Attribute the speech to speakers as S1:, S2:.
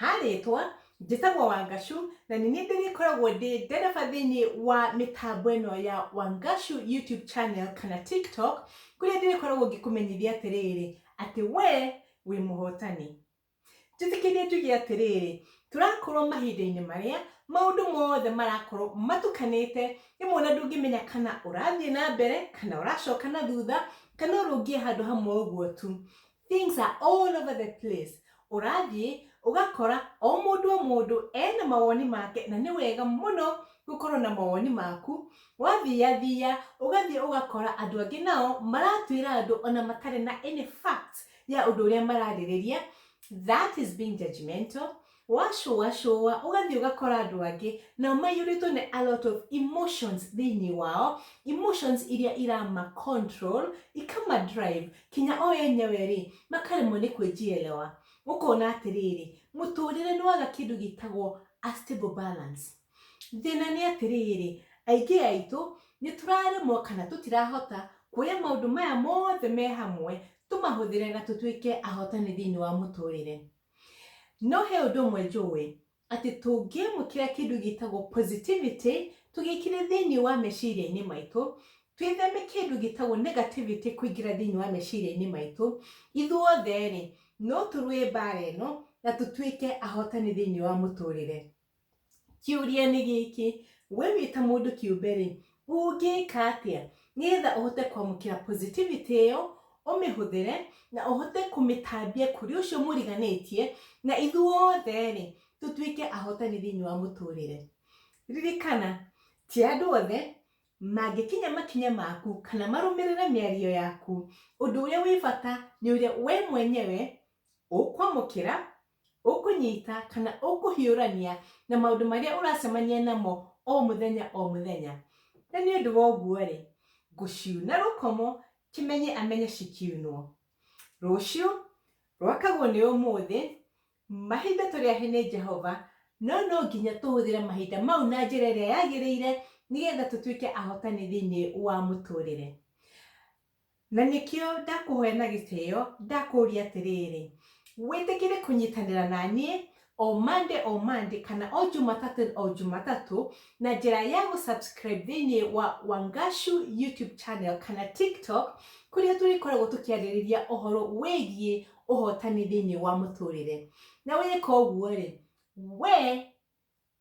S1: Ha rĩtwa, njĩtagwo Wangashu, na nĩ niĩ ndĩrĩkoragwo ndĩ ndereba thĩinĩ wa mĩtambo ĩno ya Wangashu YouTube channel kana TikTok, kũrĩa ndĩrĩkoragwo ngĩkũmenyithia atĩrĩrĩ, atĩ wee wĩ mũhotani. Njĩtĩkĩria njuge atĩrĩrĩ, tũrakorwo mahinda-inĩ marĩa maũndũ mothe marakorwo matukanĩte, rĩmwe ona ndũngĩmenya kana ũrathiĩ na mbere, kana ũracoka na thutha, kana ũrũngiĩ handũ hamwe ũguo tu. Things are all over the place. Ũrathiĩ ũgakora o mũndũ o mũndũ ena mawoni make na nĩ wega mũno gũkorwo na mawoni maku. Wathiya thiya ũgathiĩ ũgakora andũ angĩ nao maratuĩra andũ ona matarĩ na any fact ya ũndũ ũrĩa mararĩrĩria. That is being judgmental. Wacũacũa ũgathiĩ ũgakora andũ angĩ nao maiyũrĩtwo nĩ a lot of emotions thĩinĩ wao, emotions iria irama control, ikama drive, kinya o enyewe rĩ, makaremwo nĩ kwĩjielewa. Ũkona atĩrĩrĩ, mũtũrĩre nĩ waga kĩndũ gĩtagwo a stable balance. Thĩna nĩ atĩrĩrĩ, aingĩ aitũ nĩ tũraremwo kana tũtirahota kuoya maũndũ maya mothe me hamwe tũmahũthĩre na tũtuĩke ahotani thĩinĩ wa mũtũrĩre. No he ũndũ ũmwe njũĩ, atĩ tũngĩamũkĩra kĩndũ gĩtagwo positivity, tũgĩkĩre thĩinĩ wa meciria-inĩ maitũ, twĩtheme kĩndũ gĩtagwo negativity kũingĩra thĩinĩ wa meciria-inĩ maitũ, ithuothe-rĩ, no tũrũe mbara ĩno, na tũtuĩke ahotani thĩinĩ wa mũtũrĩre. Kĩũria nĩ gĩkĩ, we wĩ ta mũndũ kĩũmbe rĩ, ũngĩka atĩa nĩgetha ũhote kwamũkĩra positivity ĩyo, ũmĩhũthĩre na ũhote kũmĩtambia kũrĩ ũcio mũriganĩtie, na ithuothe rĩ, tũtuĩke ahotani thĩinĩ wa mũtũrĩre. Ririkana, ti andũ othe mangĩkinya makinya maku kana marũmĩrĩre mĩario yaku. Ũndũ ũrĩa wĩ bata nĩ ũrĩa we mwenyewe ũkwamũkĩra ũkũnyita kana ũkũhiũrania na maũndũ marĩa ũracemania namo o mũthenya o mũthenya na nĩ ũndũ wa ũguo-rĩ ngũciuna rũkomo kĩmenye amenye cikiunwo rũciũ rwakagwo nĩ ũmũthĩ mahinda tũrĩ ahe nĩ Jehova no no nginya tũhũthĩre mahinda mau na njĩra ĩrĩa yagĩrĩire nĩgetha tũtuĩke ahotani thĩinĩ wa mũtũrĩre. Na nĩkĩo ndakũhoya na gĩtĩo, ndakũũria atĩrĩrĩ, wĩtĩkĩre kũnyitanĩra na niĩ o Monday o Monday kana o Jumatatũ o Jumatatũ na njĩra ya gũ subscribe thĩinĩ wa Wangashu YouTube channel kana TikTok kũrĩa tũrĩkoragwo tũkĩarĩrĩria ũhoro wĩgiĩ ũhotani thĩinĩ wa mũtũrĩre. Na weka ũguo-rĩ, wee